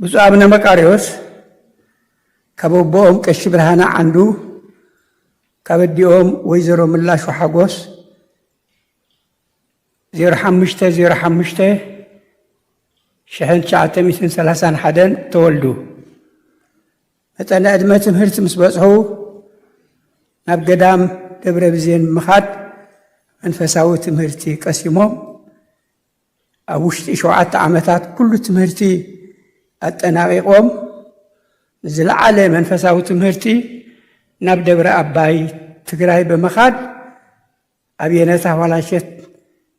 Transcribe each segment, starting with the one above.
ብፁዕ ኣቡነ መቃርዮስ ካብ ኣቦኦም ቀሺ ብርሃነ ዓንዱ ካብ ኣዲኦም ወይዘሮ ምላሹ ሓጎስ 05 05 1931 ተወልዱ። መጠነ ዕድመ ትምህርቲ ምስ በጽሑ ናብ ገዳም ደብረ ብዜን ብምኻድ መንፈሳዊ ትምህርቲ ቀሲሞም ኣብ ውሽጢ ሸውዓተ ዓመታት ኩሉ ትምህርቲ ኣጠናቒቖም ንዝለዓለ መንፈሳዊ ትምህርቲ ናብ ደብረ ኣባይ ትግራይ ብምኻድ ኣብ የነታ ኋላሸት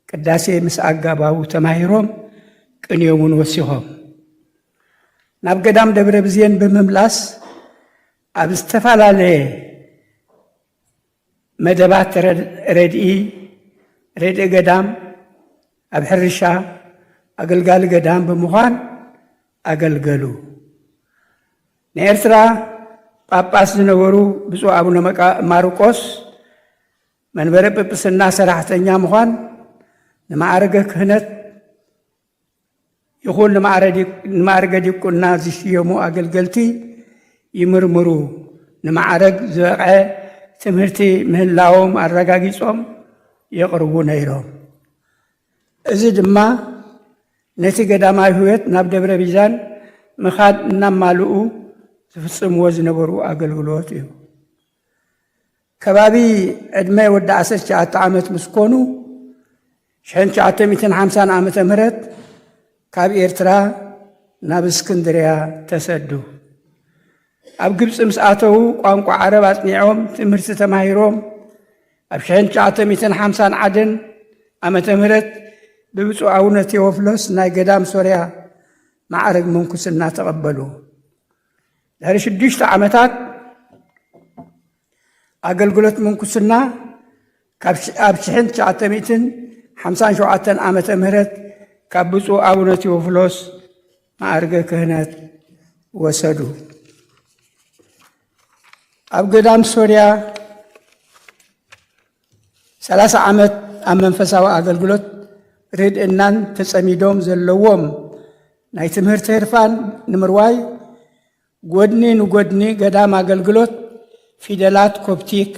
ቅዳሴ ምስ ኣጋባቡ ተማሂሮም ቅንዮም እውን ወሲኾም ናብ ገዳም ደብረ ብዜን ብምምላስ ኣብ ዝተፈላለየ መደባት ረድኢ፣ ረድኢ ገዳም ኣብ ሕርሻ ኣገልጋሊ ገዳም ብምዃን ኣገልገሉ። ናይ ኤርትራ ጳጳስ ዝነበሩ ብፁዕ ኣቡነ ማርቆስ መንበረ ጵጵስና ሰራሕተኛ ምዃን ንማዕርገ ክህነት ይኹን ንማዕርገ ዲቁና ዝሽየሙ ኣገልገልቲ ይምርምሩ ንማዕረግ ዝበቕዐ ትምህርቲ ምህላዎም ኣረጋጊጾም የቕርቡ ነይሮም። እዚ ድማ ነቲ ገዳማዊ ሕይወት ናብ ደብረ ቢዛን ምኻድ እናማልኡ ዝፍጽምዎ ዝነበሩ ኣገልግሎት እዩ። ከባቢ ዕድመ ወዲ ዓሰርተ ትሽዓተ ዓመት ምስ ኮኑ፣ ሽሕን ትሽዓተ ሚእትን ሓምሳን ዓመተ ምህረት ካብ ኤርትራ ናብ እስክንድርያ ተሰዱ። ኣብ ግብጺ ምስ ኣተዉ ቋንቋ ዓረብ ኣጽኒዖም ትምህርቲ ተማሂሮም ኣብ ሽሕን ትሽዓተ ሚእትን ሓምሳን ዓደን ዓመተ ምህረት ብብፁዕ ኣቡነ ቴዎፍሎስ ናይ ገዳም ሶርያ ማዕረግ ምንኩስና ተቐበሉ። ድሕሪ ሽዱሽተ ዓመታት ኣገልግሎት ምንኩስና ኣብ ሽሕን ትሽዓተ ሚእትን ሓምሳን ሸውዓተን ዓመተ ምህረት ካብ ብፁዕ ኣቡነ ቴዎፍሎስ ማዕርገ ክህነት ወሰዱ። ኣብ ገዳም ሶርያ ሰላሳ ዓመት ኣብ መንፈሳዊ ኣገልግሎት ርድእናን ተጸሚዶም ዘለዎም ናይ ትምህርቲ ህርፋን ንምርዋይ ጎድኒ ንጎድኒ ገዳም ኣገልግሎት ፊደላት ኮፕቲክ፣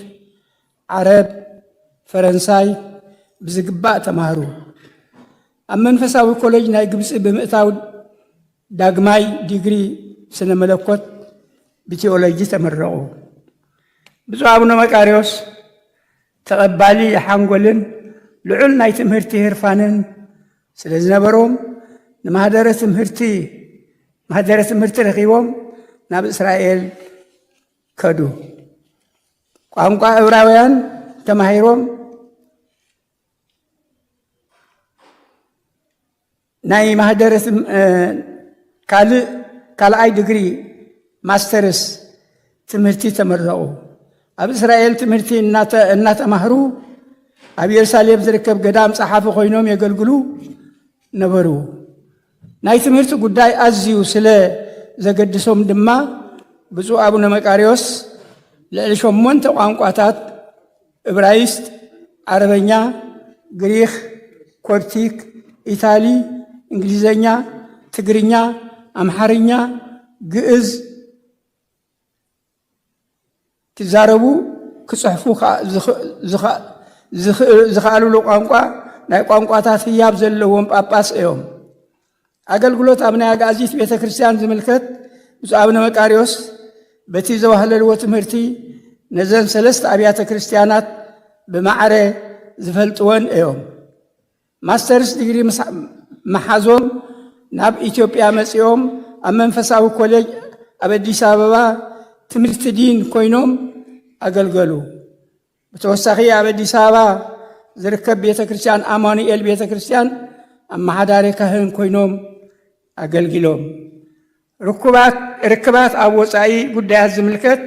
ዓረብ፣ ፈረንሳይ ብዝግባእ ተማህሩ። ኣብ መንፈሳዊ ኮሌጅ ናይ ግብፂ ብምእታው ዳግማይ ዲግሪ ስነ መለኮት ብቲኦሎጂ ተመረቑ። ብፁዕ ኣቡነ መቃርዮስ ተቐባሊ ሓንጎልን ልዑል ናይ ትምህርቲ ህርፋንን ስለ ዝነበሮም ንማህደረ ትምህርቲ ማህደረ ትምህርቲ ረኺቦም ናብ እስራኤል ከዱ። ቋንቋ ዕብራውያን ተማሂሮም ናይ ማህደረ ካልእ ካልኣይ ድግሪ ማስተርስ ትምህርቲ ተመረቑ። ኣብ እስራኤል ትምህርቲ እናተማህሩ ኣብ ኢየሩሳሌም ዝርከብ ገዳም ጸሓፊ ኮይኖም የገልግሉ ነበሩ። ናይ ትምህርቲ ጉዳይ ኣዝዩ ስለ ዘገድሶም ድማ ብፁዕ ኣቡነ መቃርዮስ ልዕሊ ሸሞንተ ቋንቋታት እብራይስጥ፣ ዓረበኛ፣ ግሪኽ፣ ኮፕቲክ፣ ኢታሊ፣ እንግሊዘኛ፣ ትግርኛ፣ ኣምሓርኛ፣ ግእዝ፣ ክዛረቡ ክፅሕፉ ዝኸእልሉ ቋንቋ ናይ ቋንቋታት ህያብ ዘለዎም ጳጳስ እዮም። ኣገልግሎት ኣብ ናይ ኣግኣዚት ቤተ ክርስቲያን ዝምልከት ብፁዕ ኣብነ መቃርዮስ በቲ ዘዋህለልዎ ትምህርቲ ነዘን ሰለስተ ኣብያተ ክርስቲያናት ብማዕረ ዝፈልጥወን እዮም። ማስተርስ ዲግሪ መሓዞም ናብ ኢትዮጵያ መፂኦም ኣብ መንፈሳዊ ኮሌጅ ኣብ ኣዲስ ኣበባ ትምህርቲ ዲን ኮይኖም ኣገልገሉ። ብተወሳኺ ኣብ ኣዲስ ኣበባ ዝርከብ ቤተ ክርስቲያን ኣማኑኤል ቤተ ክርስቲያን ኣመሓዳሪ ካህን ኮይኖም ኣገልጊሎም። ርኩባት ርክባት ኣብ ወፃኢ ጉዳያት ዝምልከት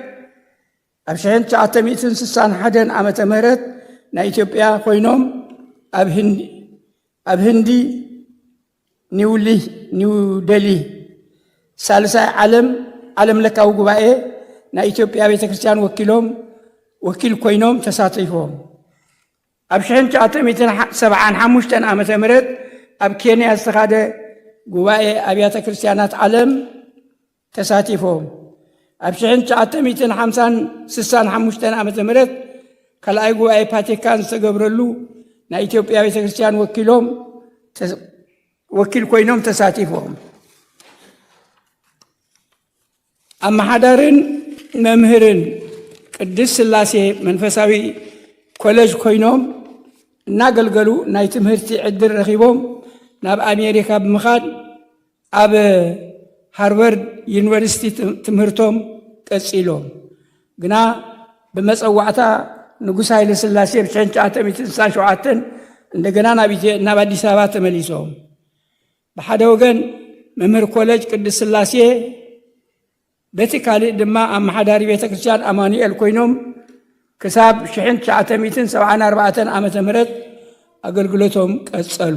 ኣብ 1961 ዓመተ ምህረት ናይ ኢትዮጵያ ኮይኖም ኣብ ህንዲ ኒውደልሂ፣ ሳልሳይ ዓለም ዓለም ለካዊ ጉባኤ ናይ ኢትዮጵያ ቤተ ክርስቲያን ወኪሎም ወኪል ኮይኖም ተሳቲፎም። ኣብ 1975 ዓ ም ኣብ ኬንያ ዝተኻደ ጉባኤ ኣብያተ ክርስቲያናት ዓለም ተሳቲፎም ኣብ ሽሕን ትሽዓተ ሚእትን ሓምሳን ስሳን ሓሙሽተን ዓመተ ምህረት ካልኣይ ጉባኤ ፓቲካን ዝተገብረሉ ናይ ኢትዮጵያ ቤተ ክርስቲያን ወኪሎም ወኪል ኮይኖም ተሳቲፎም ኣመሓዳርን መምህርን ቅድስ ስላሴ መንፈሳዊ ኮለጅ ኮይኖም እናገልገሉ ናይ ትምህርቲ ዕድል ረኺቦም ናብ ኣሜሪካ ብምኻድ ኣብ ሃርቨርድ ዩኒቨርሲቲ ትምህርቶም ቀጺሎም ግና ብመጸዋዕታ ንጉስ ሃይለ ስላሴ ብ ትሽዓተ ሚእትን ስሳን ሸውዓተን እንደገና ናብ ኣዲስ ኣበባ ተመሊሶም ብሓደ ወገን መምህር ኮለጅ ቅድስ ስላሴ በቲ ካልእ ድማ ኣመሓዳሪ ቤተ ክርስቲያን ኣማኑኤል ኮይኖም ክሳብ 1974 ዓ ም ኣገልግሎቶም ቀጸሉ።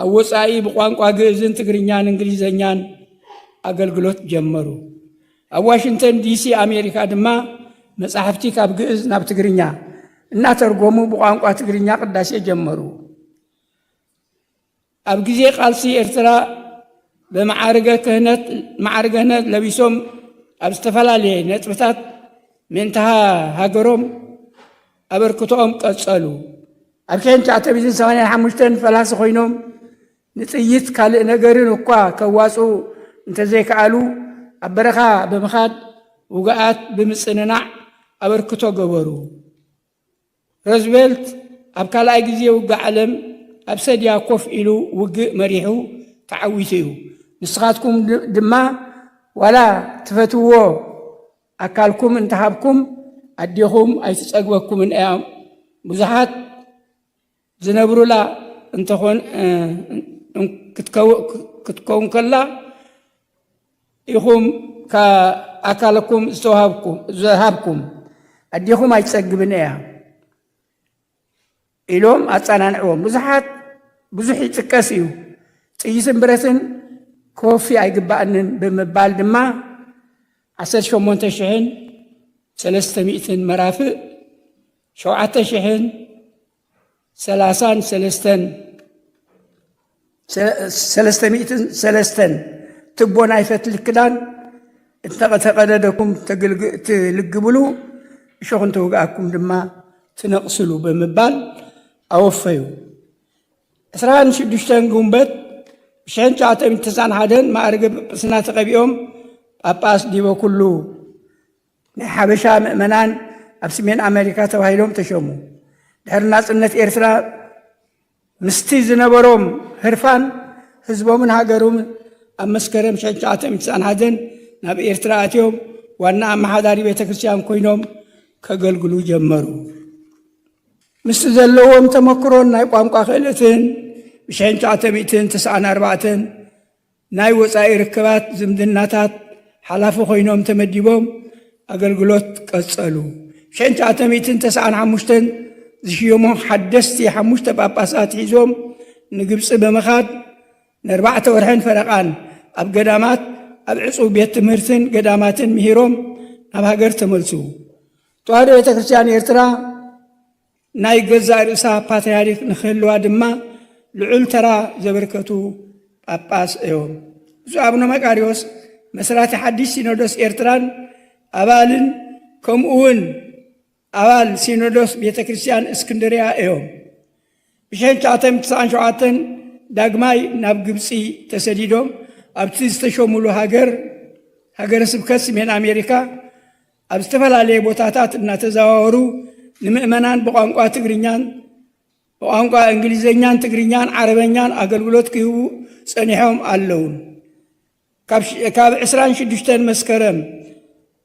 ኣብ ወጻኢ ብቋንቋ ግእዝን ትግርኛን እንግሊዘኛን ኣገልግሎት ጀመሩ። ኣብ ዋሽንግተን ዲሲ ኣሜሪካ ድማ መጻሕፍቲ ካብ ግእዝ ናብ ትግርኛ እናተርጎሙ ብቋንቋ ትግርኛ ቅዳሴ ጀመሩ። ኣብ ግዜ ቃልሲ ኤርትራ ብመዓርገ ክህነት መዓርገ ክህነት ለቢሶም ኣብ ዝተፈላለየ ነጥብታት ምእንተ ሃገሮም ኣበርክቶኦም ቀጸሉ። ኣብ ሽሕን ትሽዓተ ሚእትን ሰማንያን ሓሙሽተን ፈላሲ ኮይኖም ንጥይት ካልእ ነገርን እኳ ከዋጽኡ እንተዘይከኣሉ ኣብ በረኻ ብምኻድ ውግኣት ብምጽንናዕ ኣበርክቶ ገበሩ። ሮዝቨልት ኣብ ካልኣይ ግዜ ውግእ ዓለም ኣብ ሰድያ ኮፍ ኢሉ ውግእ መሪሑ ተዓዊቱ እዩ። ንስኻትኩም ድማ ዋላ ትፈትውዎ ኣካልኩም እንተሃብኩም ኣዴኹም ኣይትጸግበኩምን እያ። ብዙሓት ዝነብሩላ እንተኾን ክትከውን ከላ ኢኹም ኣካልኩም ዝተዋሃብኩም ዝሃብኩም ኣዴኹም ኣይትጸግብን እያ። ኢሎም ኣጸናንዕዎም። ብዙሓት ብዙሕ ይጥቀስ እዩ፣ ጥይትን ብረትን ክወፊ ኣይግባእንን ብምባል ድማ ዓሰርተ ሸሞንተ ሽሕን ሰለስተ ሚእትን መራፍእ ሸውዓተ ሽሕን ሰላሳን ሰለስተን ሰለስተ ሚእትን ሰለስተን ትቦ ናይ ፈትሊ ክዳን እተቐተቐደደኩም ትልግብሉ እሾኹ እንተወግኣኩም ድማ ትነቕስሉ ብምባል ኣወፈዩ። ዕስራን ሽዱሽተን ግንቦት ብሸን ትሽዓተ ሚእቲ ተስዓን ሓደን ማእርገ ጵጵስና ተቐቢኦም ጳጳስ ዲበ ኩሉ ናይ ሓበሻ ምእመናን ኣብ ሰሜን ኣሜሪካ ተባሂሎም ተሸሙ። ድሕሪ ናጽነት ኤርትራ ምስቲ ዝነበሮም ህርፋን ህዝቦምን ሃገሩምን ኣብ መስከረም ሽሕ ትሽዓተ ሚእቲ ትስዓን ሓደን ናብ ኤርትራ ኣትዮም ዋና ኣመሓዳሪ ቤተ ክርስቲያን ኮይኖም ከገልግሉ ጀመሩ። ምስቲ ዘለዎም ተመክሮን ናይ ቋንቋ ክእለትን ብሽሕ ትሽዓተ ሚእትን ትስዓን ኣርባዕተን ናይ ወጻኢ ርክባት ዝምድናታት ሓላፊ ኮይኖም ተመዲቦም ኣገልግሎት ቀጸሉ። ሽሕን ትሽዓተ ሚእትን ተስዓን ሓሙሽተን ዝሽየሙ ሓደስቲ ሓሙሽተ ጳጳሳት ሒዞም ንግብጺ ብምኻድ ንኣርባዕተ ወርሕን ፈረቓን ኣብ ገዳማት ኣብ ዕጹው ቤት ትምህርትን ገዳማትን ምሂሮም ናብ ሃገር ተመልሱ። ተዋህዶ ቤተ ክርስቲያን ኤርትራ ናይ ገዛእ ርእሳ ፓትርያርክ ንክህልዋ ድማ ልዑል ተራ ዘበርከቱ ጳጳስ እዮም። ብፁዕ ኣቡነ መቃርዮስ መስራቲ ሓድሽ ሲኖዶስ ኤርትራን ኣባልን ከምኡ እውን ኣባል ሲኖዶስ ቤተ ክርስቲያን እስክንድርያ እዮም። ብሸንቻተም ትስዓን ሸውዓተን ዳግማይ ናብ ግብፂ ተሰዲዶም ኣብቲ ዝተሸሙሉ ሃገር ሃገረ ስብከት ስሜን ኣሜሪካ ኣብ ዝተፈላለየ ቦታታት እናተዘዋወሩ ንምእመናን ብቋንቋ ትግርኛን ብቋንቋ እንግሊዘኛን ትግርኛን ዓረበኛን ኣገልግሎት ክህቡ ጸኒሖም ኣለዉ። ካብ 26 መስከረም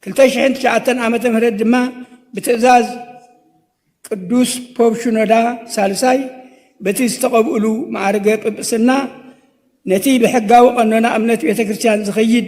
2009 ዓ ም ድማ ብትእዛዝ ቅዱስ ፖብ ሽኖዳ ሳልሳይ በቲ ዝተቐብእሉ ማዕርገ ጵጵስና ነቲ ብሕጋዊ ቀኖና እምነት ቤተ ክርስቲያን ዝኸይድ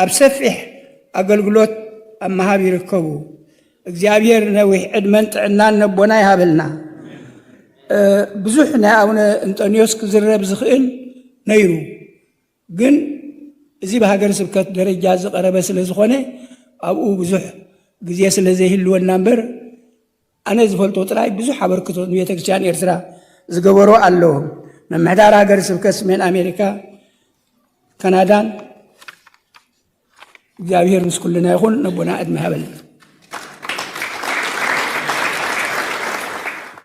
ኣብ ሰፊሕ ኣገልግሎት ኣብ ምሃብ ይርከቡ። እግዚኣብሔር ነዊሕ ዕድመን ጥዕናን ነቦና ይሃበልና። ብዙሕ ናይ ኣቡነ እንጠንዮስ ክዝረብ ዝኽእል ነይሩ ግን እዚ ብሃገር ስብከት ደረጃ ዝቐረበ ስለ ዝኾነ ኣብኡ ብዙሕ ግዜ ስለ ዘይህልወና እምበር ኣነ ዝፈልጦ ጥራይ ብዙሕ ኣበርክቶ ንቤተክርስትያን ኤርትራ ዝገበሩ ኣለዉ። ምምሕዳር ሃገረ ስብከት ስሜን ኣሜሪካ ካናዳን እግዚኣብሔር ምስ ኩልና ይኹን ነቦና ዕድመ ሃበልና